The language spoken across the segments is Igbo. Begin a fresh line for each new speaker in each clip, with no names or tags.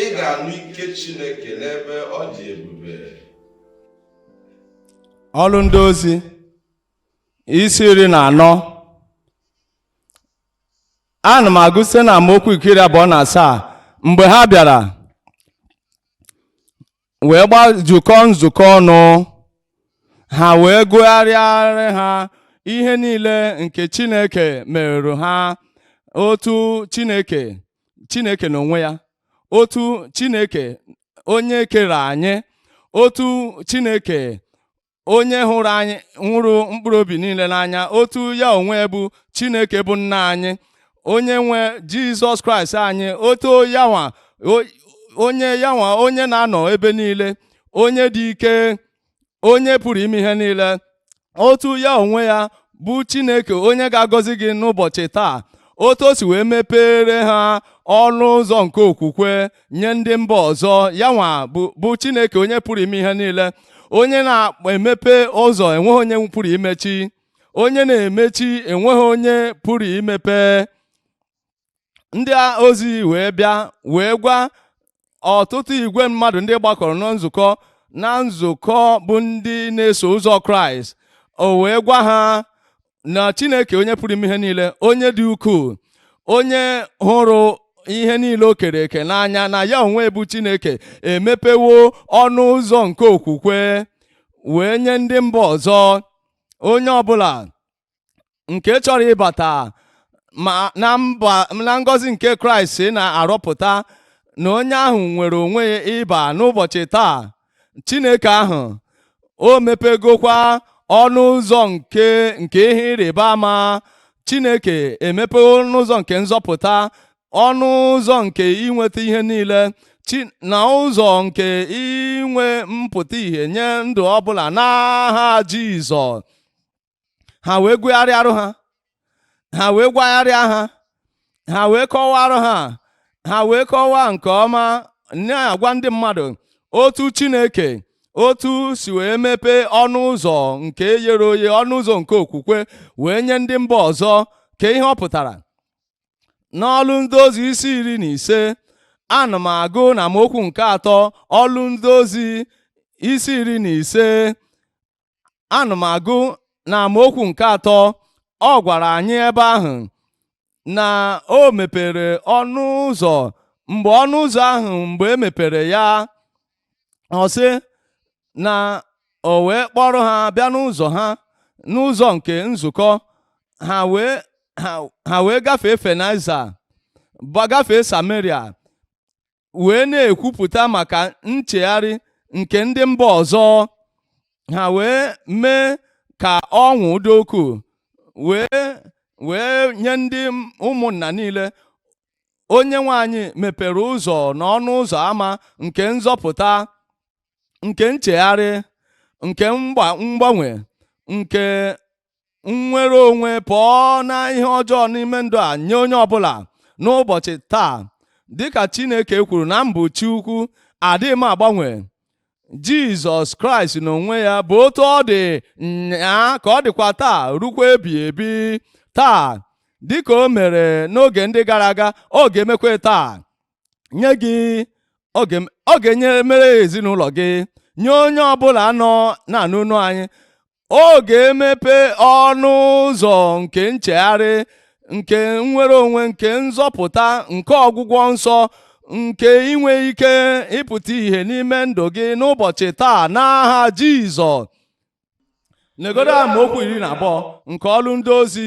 ị ga-anụ ike Chineke n'ebe ọ dị ebube
ọrụ ndị ozi isi iri na anọ ana m agụ site na amaokwu nke iri abụọ na asaa mgbe ha bịara wee gbazukọọ nzukọ ọnụ ha wee gụgharịarị ha ihe niile nke Chineke meerụ ha otu Chineke Chineke n'onwe ya otu Chineke onye kere anyị otu Chineke onye hụrụ mkpụrụ obi niile n'anya otu ya onwe bụ Chineke bụ nna anyị onye nwe Jizọs Kraịst anyị otu yanwa onye na-anọ ebe niile onye dị ike onye pụrụ ime ihe niile otu ya onwe ya bụ Chineke onye ga-agọzi gị n'ụbọchị taa otu o si wee mepere ha ọnụ ụzọ nke okwukwe nye ndị mba ọzọ ya nwa bụ Chineke onye pụrụ ime ihe niile onye na-emepe ụzọ enweghị onye pụrụ imechi onye na-emechi enweghị onye pụrụ imepe ndị ozi wee bịa wee gwa ọtụtụ igwe mmadụ ndị gbakọrọ na nzukọ na nzukọ bụ ndị na-eso ụzọ kraịst o wee gwa ha na Chineke onye pụrụ ime ihe niile onye dị ukwuu onye hụrụ ihe niile o kere eke n'anya na ya onwe bụ Chineke emepewo ọnụ ụzọ nke okwukwe wee nye ndị mba ọzọ onye ọbụla nke chọrọ ịbata na ngọzi nke Kraịst na-arọpụta na onye ahụ nwere onwe ya ịba n'ụbọchị taa Chineke ahụ o mepegokwa ọnụ ụzọ nke ihe ịrịba ama Chineke emepewo ọnụ ụzọ nke nzọpụta ọnụ ụzọ nke inweta ihe niile na ụzọ nke inwe mpụta ihe nye ndụ ọbụla n'aha Jizọs ha wee gụgharịarụ ha ha wee gwagharịa ha ha wee kọwaarụ ha ha wee kọwaa nke ọma na-agwa ndị mmadụ otu Chineke otu si wee mepee ọnụ ụzọ nke yere oye ọnụ ụzọ nke okwukwe wee nye ndị mba ọzọ ka ihe ọ pụtara n'ọlụ ndị ozi isi iri na ise ana m agụ na amaokwu nke atọ ọlụ ndị ozi isi iri na ise ana m agụ na amaokwu nke atọ ọ gwara anyị ebe ahụ na o mepere ọnụ ụzọ mgbe ọnụ ụzọ ahụ mgbe e mepere ya ọ sị na o wee kpọrọ ha bịa n'ụzọ ha n'ụzọ nke nzukọ ha wee gafee Phenice gafee Samaria wee na-ekwupụta maka nchegharị nke ndị mba ọzọ ha wee mee ka ọṅụ dị ukwuu wee nye ndị ụmụnna niile onye nwe anyị mepere ụzọ na ọnụ ụzọ ama nke nzọpụta nke nchegharị nke mgbanwe nke nnwere onwe pụọ na ihe ọjọọ n'ime ndụ a nye onye ọbụla n'ụbọchị taa dịka Chineke kwuru na m bụ Chi ukwu adịghị m agbanwe Jizọs Kraịst n'onwe ya bụ otu ọ dị nyaa ka ọ dịkwa taa rukwa ebighị ebi taa dịka o mere n'oge ndị gara aga ọ ga-emekwa taa nye gị ọ ga-enye mere ezinụlọ gị nye onye ọbụla nọ na-anụ olu anyị ọ ga-emepe ọnụ ụzọ nke nchegharị nke nnwere onwe nke nzọpụta nke ọgwụgwọ nsọ nke inwe ike ịpụta ìhè n'ime ndụ gị n'ụbọchị taa n'aha Jizọs negodo amaokwu iri na abụọ nke ọlụ ndị ozi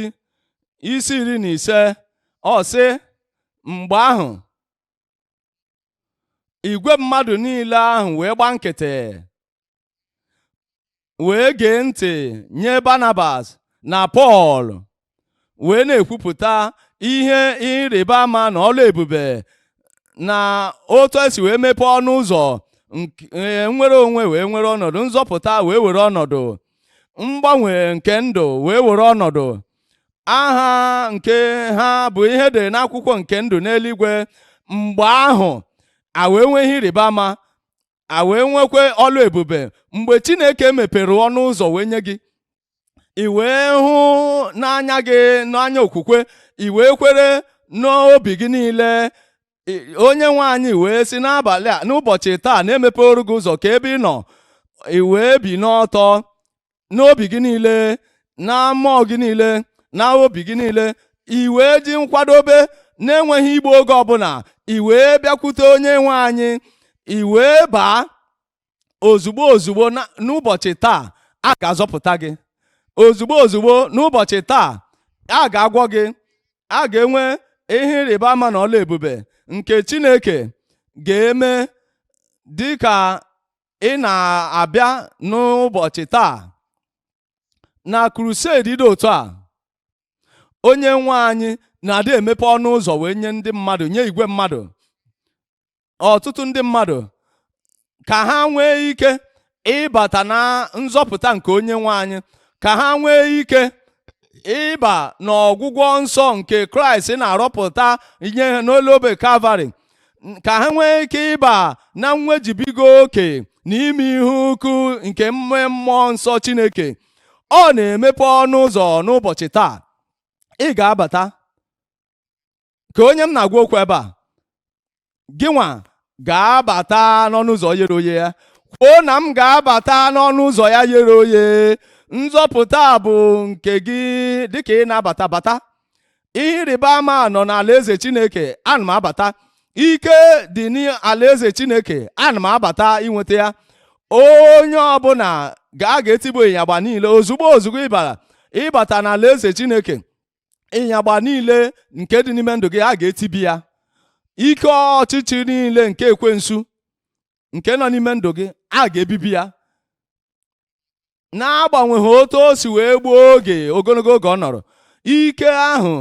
isi iri na ise ọ sị mgbe ahụ igwe mmadụ niile ahụ wee gba nkịtị wee gee ntị nye Barnabas na Pọl wee na-ekwupụta ihe ịrịba ama na ọlụ ebube na otu e si wee mepee ọnụ ụzọ nnwere onwe wee were ọnọdụ nzọpụta wee were ọnọdụ mgbanwe nke ndụ wee were ọnọdụ aha nke ha bụ ihe dị n'akwụkwọ nke ndụ n'eluigwe mgbe ahụ a wee nwee ihe ịrịba ama a wee nwekwa ọlụ ebube mgbe chineke mepere ọnụ ụzọ wee nye gị i wee hụ n'anya gị n'anya okwukwe i wee kwere n'obi gị niile onye nwe anyị wee si n'abalị a n'ụbọchị taa na-emepere gị ụzọ ka ebe ị nọ i wee binie ọtọ n'obi gị niile na mmụọ gị niile na obi gị niile i wee ji nkwadobe na-enweghị igbu oge ọbụla i wee bịakwute onye nwe anyị i wee baa ozugbo ozugbo n'ụbọchị taa a ga-azọpụta gị ozugbo ozugbo n'ụbọchị taa a ga-agwọ gị a ga-enwe ihe ịrịba ama na ọlụ ebube nke Chineke ga-eme dịka ị na-abịa n'ụbọchị taa na crusade dị otu a onye nwe anyị na-adị emepe ọnụ ụzọ wee nye ndị mmadụ nye igwe mmadụ ọtụtụ ndị mmadụ ka ha nwee ike ịbata na nzọpụta nke onye nwe anyị ka ha nwee ike ịba n'ọgwụgwọ nsọ nke kraịst na-arụpụta ihe n'elu obe kalvarị ka ha nwee ike ịba na nwejubiga oke na ime ihe ukwu nke mme mmụọ nsọ Chineke ọ na-emepe ọnụ ụzọ n'ụbọchị taa ị ga-abata ka onye m na-agwa okwu ebe a gị nwa ga-abata n'ọnụ ụzọ yere oye ya kwuo na m ga-abata n'ọnụ ụzọ ya yere oye nzọpụta bụ nke gị dịka ị na-abata bata ihe ịrịba ama nọ n'alaeze chineke ana m abata ike dị n'alaeze chineke ana m abata inweta ya onye ọbụla ga a ga-etibi ịnyagba niile ozugbo ozugbo ị bata n'alaeze chineke ịnyagba niile nke dị n'ime ndụ gị a ga-etibi ya ike ọchịchị niile nke ekwensu nke nọ n'ime ndụ gị a ga-ebibi ya n'agbanweghị otu o si wee gbuo oge ogologo oge ọ nọrọ ike ahụ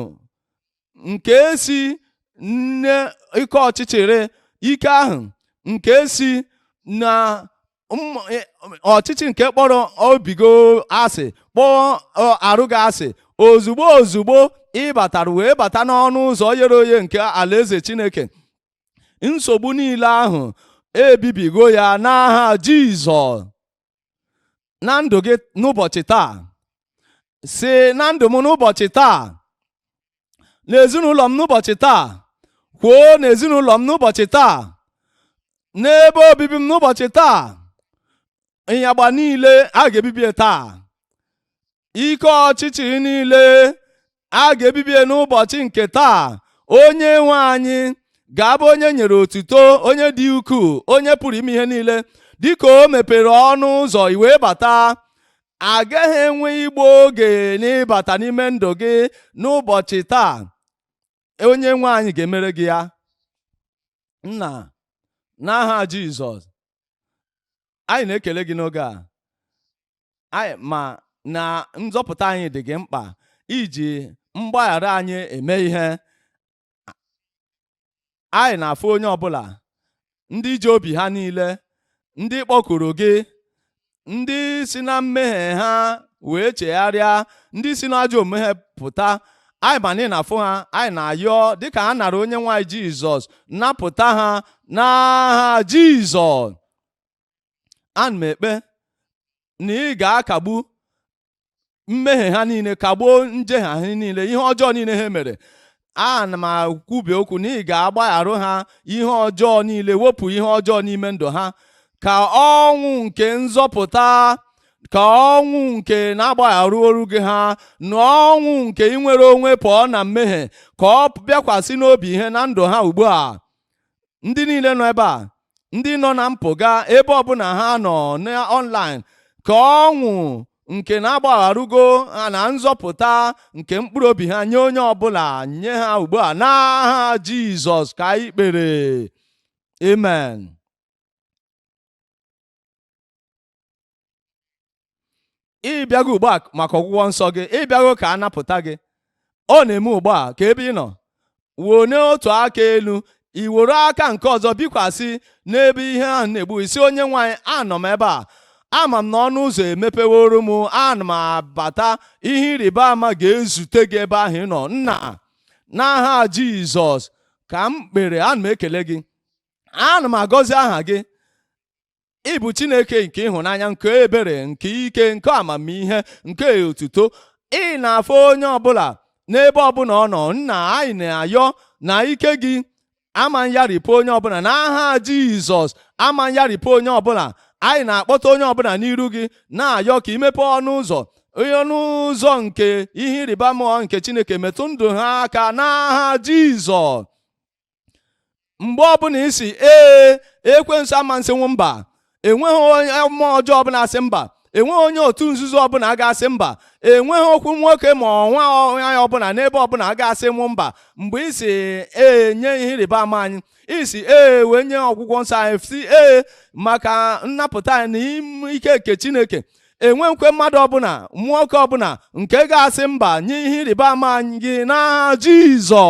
nke si n'ime ike ọchịchịrị ike ahụ nke si na e, ọchịchị nke kpọrọ obi gị asị kpọọ arụ gị asị ozugbo ozugbo ị batara wee bata n'ọnụ ụzọ yere oye nke alaeze chineke nsogbu niile ahụ ebibigo ya n'aha jizọs na ndụ gị n'ụbọchị taa sị na ndụ m n'ụbọchị taa na ezinụlọ m n'ụbọchị taa kwuo na ezinụlọ m n'ụbọchị taa n'ebe obibi m n'ụbọchị taa ịnyagba niile a ga-ebibie taa ike ọchịchịrị niile a ga-ebibie n'ụbọchị nke taa onye nwe anyị ga-abụ onye e nyere otuto onye dị ukwuu onye pụrụ ime ihe niile dịka o mepere ọnụ ụzọ i wee bata agaghị enwe igbu oge n'ịbata n'ime ndụ gị n'ụbọchị taa onye nwe anyị ga-emere gị ya nna n'aha Jizọs anyị na-ekele gị n'oge a anyị ma na nzọpụta anyị dị gị mkpa i ji mgbaghara anyị eme ihe anyị na-afụ onye ọbụla ndị ji obi ha niile ndị kpọkuru gị ndị si na mmehie ha wee chegharịa ndị si n'ajọ omume ha pụta anyị ma na ị na-afụ ha anyị na-ayọ dịka ha nara onye nwe anyị jizọs napụta ha n'aha jizọs ana m ekpe na ị ga-akagbu mmehie ha niile kagbuo njehie ha niile ihe ọjọọ niile ha mere ana m ekwubi okwu na ị ga-agbagharụ ha ihe ọjọọ niile wepụ ihe ọjọọ n'ime ndụ ha ka ọṅụ nke nzọpụta ka ọṅụ nke na a gbagharụrụgo ha na ọṅụ nke inwere onwe pụọ na mmehie ka ọ bịakwasị n'obi ha na ndụ ha ugbu a ndị niile nọ ebe a ndị nọ na mpụga ebe ọbụla ha nọ n'ọnlaịn ka ọṅụ nke na agbagharugo ha na nzọpụta nke mkpụrụ obi ha nye onye ọbụla nye ha ugbu a n'aha Jizọs ka anyị kpere amen ị bịago ugbu a maka ọgwụgwọ nsọ gị ị bịago ka a napụta gị ọ na-eme ugbu a ka ebe ị nọ wenie otu aka elu i were aka nke ọzọ bikwasị n'ebe ihe ahụ na-egbu ị sị onye nwe anyị anọ m ebe a ama m na ọnụ ụzọ emepeworo m ana m abata ihe ịrịba ama ga-ezute gị ebe ahụ ị nọ nna n'aha jizọs ka m kpere ana m ekele gị ana m agọzi aha gị ị bụ Chineke nke ịhụnanya nke ebere nke ike nke amamihe nke otuto ị na-afụ onye ọbụla n'ebe ọbụla ọ nọ nna anyị na-ayọ na ike gị ama nyaripụ onye ọbụla n'aha Jizọs ama nyaripụ onye ọbụla anyị na-akpọta onye ọbụla n'iru gị na-ayọ ka i mepe ọnụ ụzọ ọnụ ụzọ nke ihe ịrịba ama nke Chineke metụ ndụ ha aka n'aha Jizọs mgbe ọbụla ị sị ee ekwensu ama asịnwu mba enweghị onye mmụọ ọjọọ ọbụla asị mba enweghị onye otu nzuzo ọbụla ga-asị mba enweghị okwu nwoke ma nwanyị ọbụla n'ebe ọbụla ga-asịnwu mba mgbe ị sị ee nye ihe ịrịba ama anyị ị sị ee nye ọgwụgwọ nsọ anyị sị ee maka nnapụta anyị na ike nke chineke enweghịkwa mmadụ ọbụla nwoke ọbụla nke ga-asị mba nye ihe ịrịba ama anyị n'aha jizọ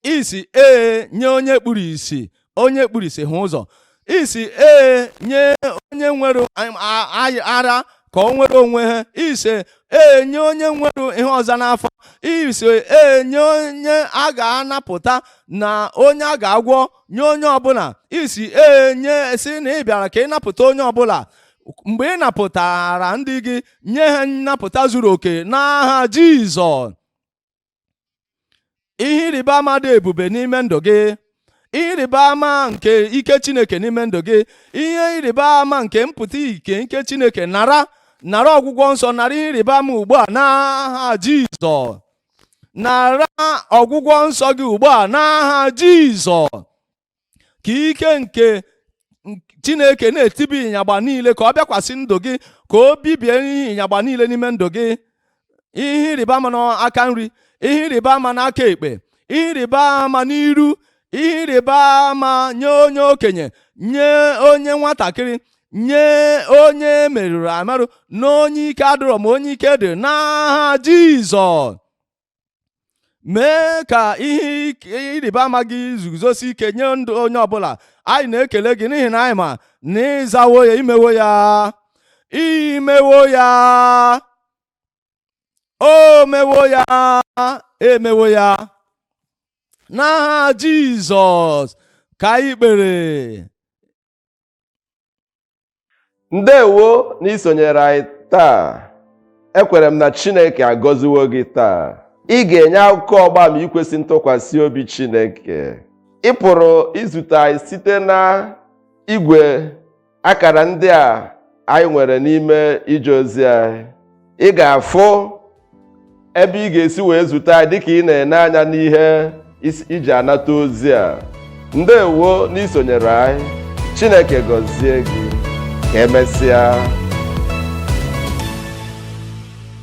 ị sị ee nye onye kpuru isi onye kpuru isi hụ ụzọ ị sị ee nye onye nwere ara ka o nwere onwe ya ị sị ee nye onye nwere ihe ọza n'afọ ị sị ee nye onye a ga-anapụta na onye a ga-agwọ nye onye ọbụla ị sị ee n'isi na ị bịara ka ị napụta onye ọbụla mgbe ị napụtara ndị gị nye ha nnapụta zuru oke n'aha Jizọs ihe ịrịba ama dị ebube n'ime ndụ gị ihe ịrịba ama nke ike chineke n'ime ndụ gị ihe ịrịba ama nke mpụta ike nke chineke nara nara ọgwụgwọ nsọ nara ihe ịrịba ama ugbu a n'aha jizọs nara ọgwụgwọ nsọ gị ugbu a n'aha jizọs ka ike nke chineke na-etibi ịnyagba niile ka ọ bịakwasị ndụ gị ka o bibie ihe ịnyagba niile n'ime ndụ gị ihe ịrịba ama n'aka nri ihe ịrịba ama n'aka ekpe ihe ịrịba ama n'iru ihe ịrịba ama nye onye okenye nye onye nwatakịrị nye onye merụrụ emerụ na onye ike adịrọ ma onye ike dị n'aha Jizọs mee ka ihe ịrịba ama gị zuzosi ike nye ndụ onye ọbụla anyị na-ekele gị n'ihi na anyị ma na ị zawo ya i mewo ya i mewo ya o mewo ya e mewo ya n'aha Jizọs ka anyị kpere
ndewo na i sonyere anyị taa ekwere m na chineke agọziwo gị taa ị ga-enye akụkọ ọgba ama ikwesị ntụkwasị obi chineke ị pụrụ izute anyị site na igwe akara ndị a anyị nwere n'ime ije ozi anyị ị ga-afụ ebe ị ga-esi wee zute anyị dịka ị na-ene anya n'ihe i ji anata ozi a ndewo na i sonyere anyị Chineke gọzie gị ka emesịa